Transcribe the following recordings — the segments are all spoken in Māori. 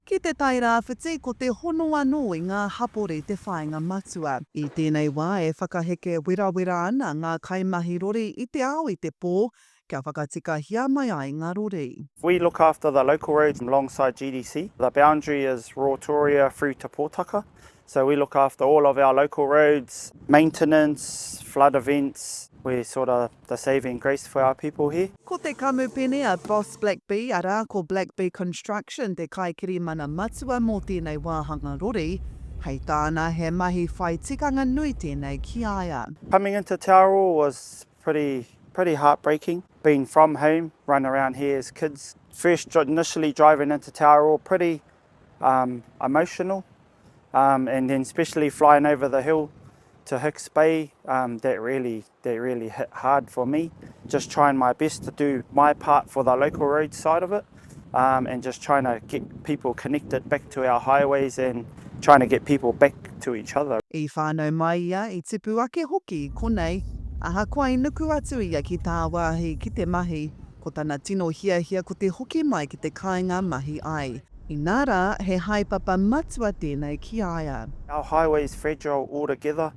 Ki te Tairāwhiti, ko te hono anō i ngā hapori te whāinga matua. I tēnei wā e whakaheke werawera ana ngā kaimahi rori i te ao i te pō kia whakatikahia mai ai ngā rori. We look after the local roads alongside GDC. The boundary is Rotorua through to Potaka, so we look after all of our local roads, maintenance, flood events, we sort of The saving grace for our people here. Ko te kamupene a Boss Black Bee, arā, ko Black Bee Construction te kaikirimana matua mō tēnei wāhanga rori. Hei tāna, he mahi whai tikanga nui tēnei ki a ia. Coming into Te Arawa was pretty pretty heartbreaking, being from home, run around here as kids, first initially driving into Te Arawa pretty um emotional um and then especially flying over the hill to Hicks Bay um that really that really hit hard for me, just trying my best to do my part for the local roads side of it um, and just trying to get people connected back to our highways and trying to get people back to each other. I whānau mai ia, i tipu ake hoki i konei, ahakoa i nuku atu ia ki tāwāhi ki te mahi, ko tana tino hiahia ko te hoki mai ki te kāinga mahi ai. Inā rā, he haepapa matua tēnei ki a ia. Our highways fragile altogether,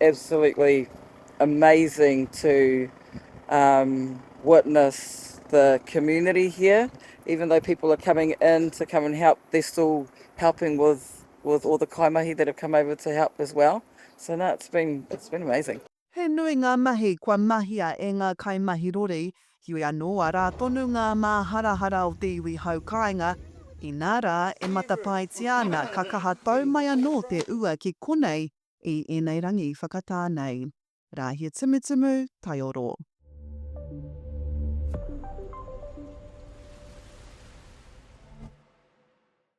Absolutely amazing to um, witness the community here. Even though people are coming in to come and help, they're still helping with with all the kaimahi that have come over to help as well. So no, it's been it's been amazing. He nui ngā mahi kua mahia e ngā kaimahi rori, heoi anō arā tonu ngā māharahara o te iwi hau kāinga, inā rā e matapaetia ana ka kaha tau mai anō te ua ki konei i ēnei rangi whakatā nei, Rāhia Tumutumu, Taioro.